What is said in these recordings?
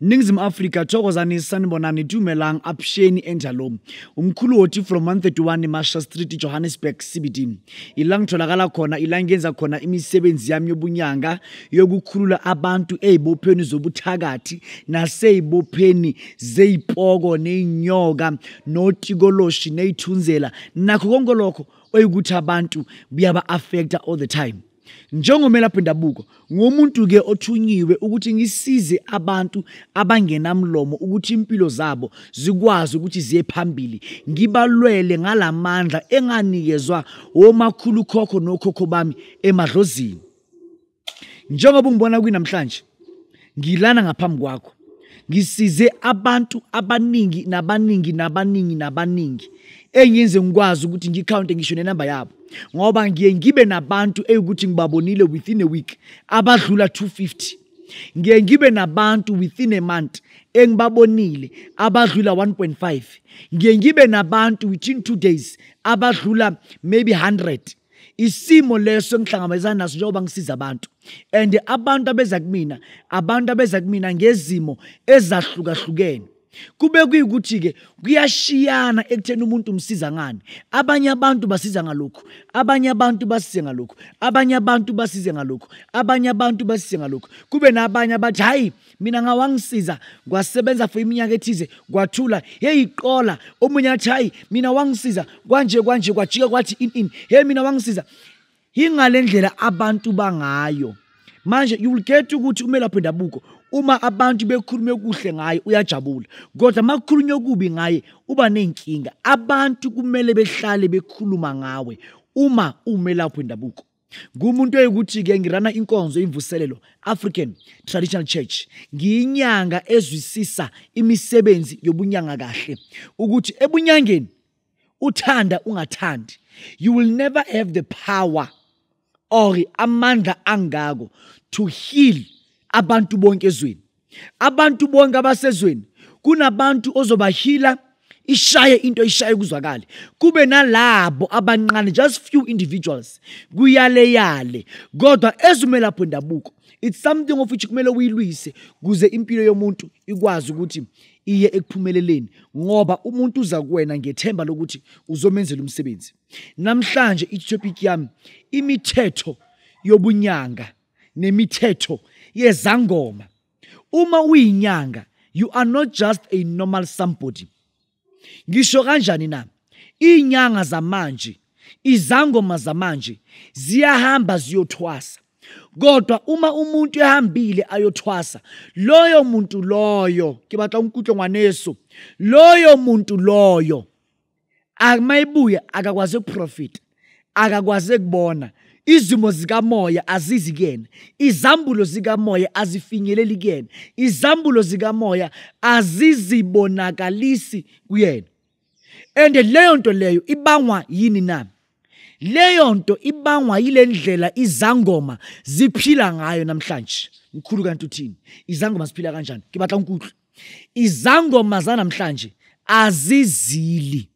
Ningizimu Afrika thokozani sanibonani dumelang apsheni enjalo umkhulu wothi from 131 Masha Street Johannesburg CBD ila ngitholakala khona ila ngenza khona imisebenzi yami yobunyanga yokukhulula abantu ezibopheni zobuthakathi nasezibopheni zezipoko nezinyoka notikoloshi nezithunzela nakho konke lokho oyikuthi abantu buyaba affecta all the time Njengomelaphi ndabuko, ngumuntu-ke othunyiwe ukuthi ngisize abantu abangenamlomo ukuthi impilo zabo zikwazi ukuthi ziye phambili. Ngibalwele ngala mandla enganikezwa womakhulukhokho nokhokho bami emadlozini. Njengoba ungibona kwinamhlanje, ngilana ngaphambi kwakho ngisize abantu abaningi nabaningi nabaningi nabaningi engenze ngikwazi ukuthi ngikhawunte ngisho nenamba yabo ngoba ngiye ngibe nabantu eyukuthi ngibabonile within a week abadlula 250 ngiye ngibe nabantu within a month engibabonile abadlula 1.5 ngiye ngibe nabantu within 2 days abadlula maybe 100 isimo leso engihlangabezana naso njengoba ngisiza abantu and abantu abeza kumina abantu abeza kumina ngezimo ezahlukahlukene kube kuyikuthi-ke kuyashiyana ekutheni umuntu umsiza ngani abanye abantu basiza ngalokhu abanye abantu basize ngalokhu abanye abantu basize ngalokhu abanye abantu basize ngalokhu kube nabanye abathi hhayi mina ngawangisiza kwasebenza for iminyaka ethize kwathula heyi qola omunye athi hayi mina wangisiza kwanje kwanje kwajika kwathi in in heyi mina wangisiza yingale ndlela abantu bangayo manje you will get ukuthi umelaphi wendabuko uma abantu bekhulume kuhle ngaye uyajabula kodwa uma kukhulunywe okubi ngaye uba ney'nkinga abantu kumele behlale bekhuluma ngawe uma umelaphi wendabuko ngumuntu oyikuthi-ke ngirana inkonzo imvuselelo african traditional church ngiyinyanga ezwisisa imisebenzi yobunyanga kahle ukuthi ebunyangeni uthanda ungathandi you will never have the power or amandla angako to heal abantu bonke ezweni abantu bonke abasezweni kunabantu ozobahila ishaye into ishaye kuzwakale kube nalabo abanqane just few individuals kuyaleyale kodwa ezumelapho ndabuko it's something of which kumele uyilwise kuze impilo yomuntu ikwazi ukuthi iye ekuphumeleleni ngoba umuntu uza kuwena ngethemba lokuthi uzomenzela umsebenzi namhlanje itopic yami imithetho yobunyanga nemithetho yezangoma uma uyinyanga you are not just a normal somebody ngisho kanjani na inyanga zamanje izangoma zamanje ziyahamba ziyothwasa kodwa uma umuntu ehambile ayothwasa loyo muntu loyo ke batla unkutlo ngwaneso loyo muntu loyo akumayibuya akakwazi ukuprofita akakwazi ukubona izimo zikamoya azizi kuyena izambulo zikamoya azifinyeleli kuyena izambulo zikamoya azizibonakalisi kuyena and leyo nto leyo ibangwa yini na leyo nto ibangwa yile ndlela izangoma ziphila ngayo namhlanje mkhulu kanti uthini izangoma ziphila kanjani ke batla unkutlu izangoma zanamhlanje azizili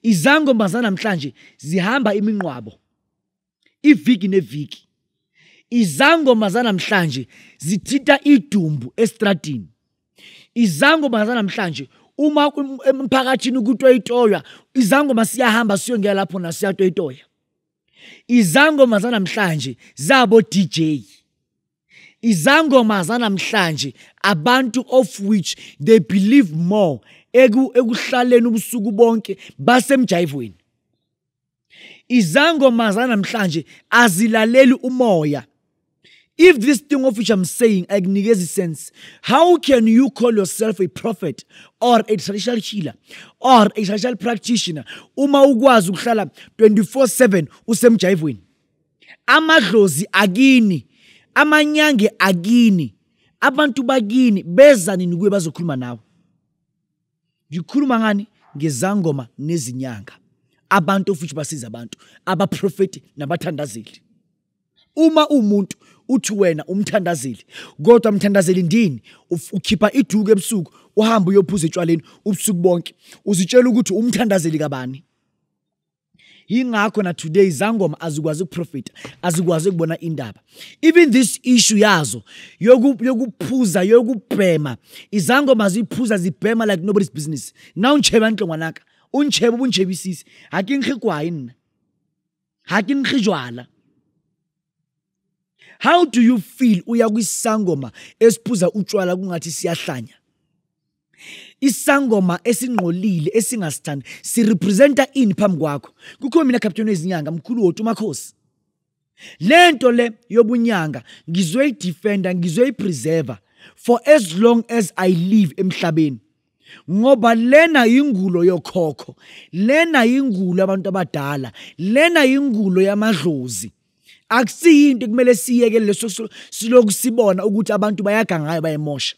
izangoma zanamhlanje zihamba iminqwabo iviki neviki izangoma zanamhlanje zithinta idumbu estradini izangoma zanamhlanje uma emphakathini kutoyitoywa izangoma siyahamba siyongela lapho na siyatoyitoya izangoma zanamhlanje zabo DJ izangoma zanamhlanje abantu of which they believe more ekuhlaleni ubusuku bonke basemjayivweni izangoma zanamhlanje azilaleli umoya if this thing of which i'm saying akunikezi sense how can you call yourself a prophet or a traditional healer or a traditional practitioner uma ukwazi ukuhlala 24/7 usemjayivweni amadlozi akini amanyange akini abantu bakini beza nini kuye bazokhuluma nawe ngikhuluma ngani ngezangoma nezinyanga abantu ofuthi basiza abantu abaprofeti nabathandazeli uma umuntu uthi wena umthandazeli kodwa mthandazeli ndini ukhipha iduku ebusuku uhamba uyophuza etshwaleni ubusuku bonke uzitshela ukuthi umthandazeli kabani yingakho na today izangoma azikwazi ukuprofita azikwazi ukubona indaba even this issue yazo yokuphuza yokubhema izangoma ziphuza zibhema like nobody's business na untshebe antle ngwanaka untshebe ubuntshebe isisi ha ke nkge kwae nna ha ke nkge jwala how do you feel uya kwisangoma esiphuza utshwala kungathi siyahlanya isangoma esingqolile esingasithandi sirepresenta ini phambi kwakho kukho mina captain wezinyanga mkhulu wotu umakhosi le nto le yobunyanga ngizoyidefenda ngizoyipreserva for as long as i live emhlabeni ngoba lena yingulo yokhokho lena yingulo abantu abadala lena yingulo yamadlozi akusiyinto kumele siyeke leso siloku sibona ukuthi abantu bayaga ngayo bayemosha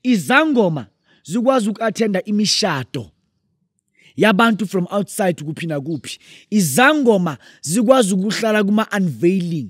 izangoma zikwazi uku-athenda imishado yabantu from outside kuphi nakuphi izangoma zikwazi ukuhlala kuma-unveiling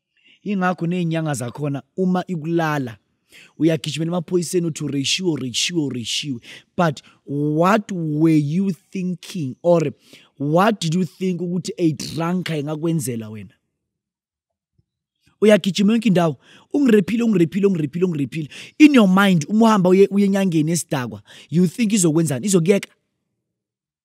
ingakho ney'nyanga zakhona uma ikulala uyagijimela emaphoyiseni uthi ureshiwe ureshiwe ureshiwe but what were you thinking or what did you think ukuthi a drunker ingakwenzela wena uyagijima yonke indawo ungirephile ungirephile ungirephile ungirephile in your mind uma uhamba uye enyangeni esidakwa you think izokwenzani izokuyeka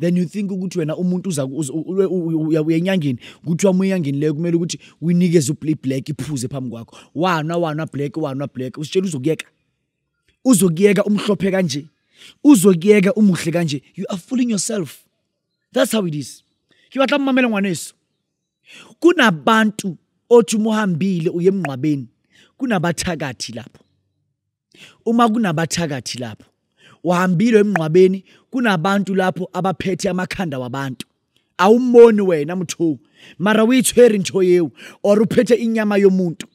then you think ukuthi wena umuntu uza uya enyangeni kuthiwa uma enyangeni leyo kumele ukuthi uyinikeze ublack iphuze phambi kwakho wana wana black wana black usitshela uzokuyeka uzokuyeka umhlophe kanje uzokuyeka umuhle kanje you are fooling yourself that's how it is ke batla mmamela ngwaneso kunabantu othi uma uhambile uye emngqwabeni kunabathakathi lapho uma kunabathakathi lapho uhambile emnqwabeni kunabantu lapho abaphethe amakhanda wabantu awumboni wena mthu mara uyithweri into yewu or uphethe inyama yomuntu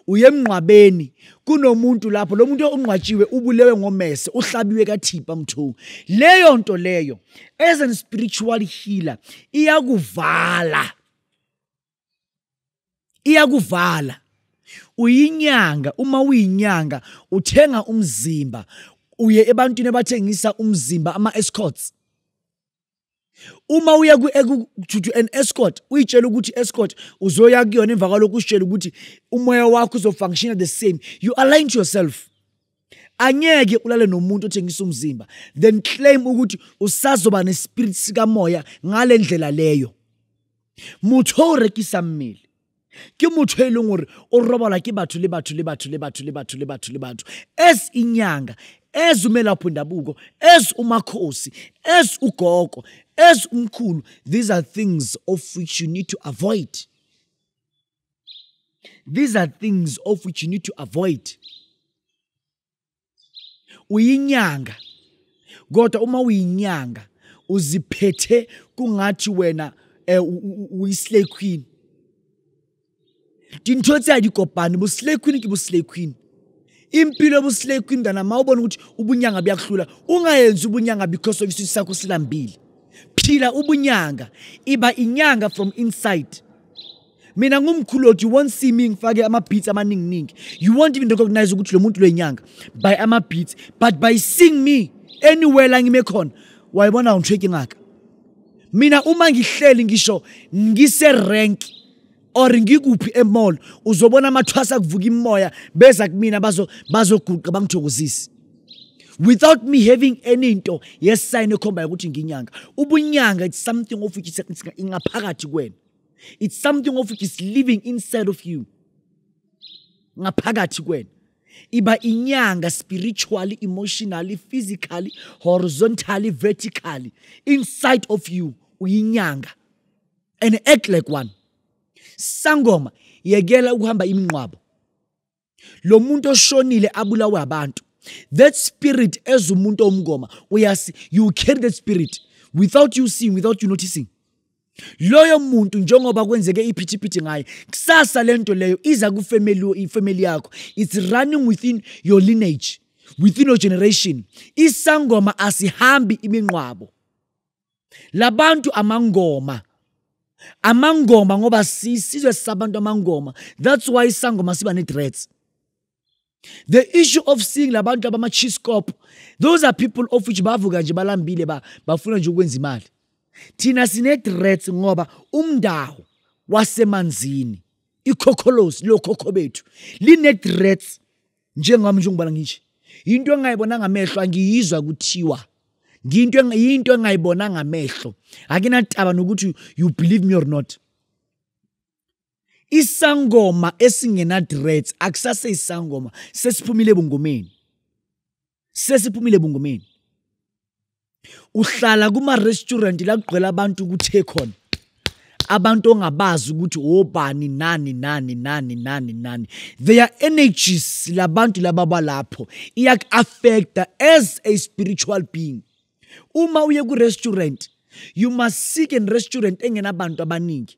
uye emnqwabeni kunomuntu lapho lo muntu onqwatshiwe ubulewe ngomese uhlabiwe kathipha mthu leyo nto leyo as an spiritual healer iyakuvala iyakuvala uyinyanga uma uyinyanga uthenga umzimba uye ebantwini abathengisa umzimba ama-escorts uma uya to an escort uyitshela ukuthi escort uzoya kuyona emva kwalokhu usitshela ukuthi umoya wakho uzofunctiona the same you align to yourself angeke ulale nomuntu othengisa umzimba then claim ukuthi usazoba nespirit sikamoya ngale ndlela leyo motho o rekisa mmele ke motho e leng gore o robala ke batho le batho le batho le batho le batho le batho le batho as inyanga as umelapho ndabuko as umakhosi as ugogo as umkhulu these are things of which you need to avoid these are things of which you need to avoid uyinyanga kodwa uma uyinyanga uziphethe kungathi wena eh, uyislay queen dintho tse a di kopane bo slay queen ke bo slay queen impilo yobuslay queen mntana ma ubona ukuthi ubunyanga buyakuhlula ungayenzi ubunyanga because of isisu sakho silambile phila ubunyanga iba inyanga from inside mina ngumkhuloti you won't see me ngifake ama-beats amaninginingi you won't even recognize ukuthi lo muntu lwenyanga by ama-beats but by seeing me anywhere la ngime khona wayibona ngitsheki ngaka mina uma ngihleli ngisho ngise-rank or ngikuphi emall uzobona amathwasa kuvuka imoya beza kumina bazoguqa bangithokozise without me having any nto yesayini ekhombayo ukuthi nginyanga ubunyanga it's something of which ingaphakathi kwena it's something of which is living inside of you ngaphakathi kwena iba inyanga spiritually emotionally physically horizontally vertically inside of you uyinyanga and act like one sangoma yekela ukuhamba imnqwabo lo muntu oshonile abulawe abantu that spirit as umuntu omngoma uyasi you carry that spirit without you seeing without you noticing loyo muntu njengoba kwenzeke iphithiphithi ngaye kusasa lento leyo iza kufamily ifamily yakho it's running within your lineage within your generation isangoma asihambi iminqwabo labantu amangoma amangoma ngoba sisizwe sabantu amangoma that's why isangoma siba ne-dreads the issue of seeing labantu abama-chiscop those are people of which bavuka nje balambile bafuna nje ukwenza imali thina sine-dreads ngoba umndawo wasemanzini ikhokholosi lokhokho bethu line-dreads njengami nje ngibala ngithi into engayibona ngamehlo angiyizwa kuthiwa ngiyinto yinto engayibona ngamehlo akinataba nokuthi you believe me or not isangoma esingena dreads akusase isangoma sesiphumile ebungomeni sesiphumile bungomeni uhlala kuma-restaurant la kugqwela abantu kuthe khona abantu ongabazi ukuthi obani nani nani nani nani nani their energies labantu laba balapho iyaku-affecta as a spiritual being uma uye ku-restaurant you must seek an restaurant engenabantu abaningi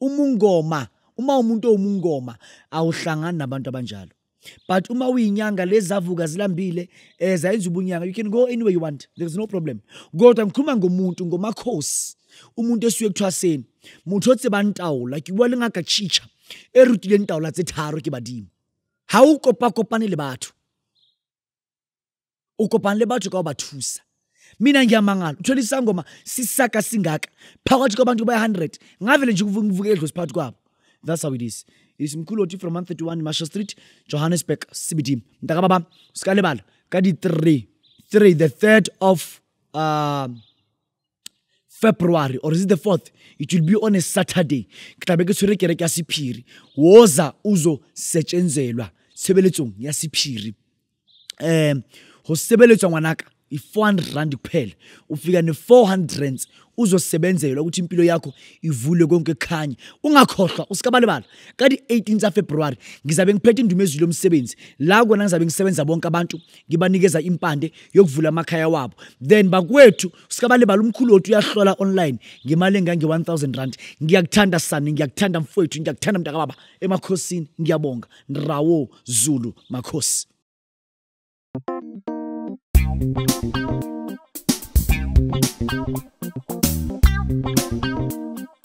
uma ungoma uma umuntu owumungoma awuhlangani nabantu abanjalo but uma uyinyanga lezavuka zilambile eh zayenza ubunyanga you can go anywhere you want there's no problem kodwa ngikhuluma ngomuntu ngomakhosi umuntu esuye kuthwaseni motho o tsebang taola ke bua le ngaka chicha e rutileng taola tse tharo ke badimo ha o kopa kopane le batho o kopane le batho ka ho ba thusa mina ngiyamangala uthole isangoma sisaka singaka phakathi kwabantu ba 100 ngavele nje kuvuke edlozi phakathi kwabo that's how it is is mkhuloti from 131 marshall street johannesburg cbd mntaka baba sikalebala ka di-3 3 the 3rd of um february or is it the fourth it will be on a saturday ke tlabe ke tshwere kereke ya sephiri woza uzo setshenzelwa sebeletsong ya sephiri um go sebeletswa ngwanaka i-four hundred rand kuphela ufika ne-four hundred rands uzosebenzelwa ukuthi impilo yakho ivule konke khanye ungakhohlwa usikabalibala ka di-18 zafebruwari ngizabe ngiphethe indumo ezwi lomsebenzi la kona ngizabe ngisebenza bonke abantu ngibanikeza impande yokuvula amakhaya wabo then bakwethu sikabalibala umkhulu wethu uyahlola online ngemali engange-1000 rand ngiyakuthanda sani ngiyakuthanda mfowethu ngiyakuthanda mntakababa emakhosini ngiyabonga nrawo zulu makhosi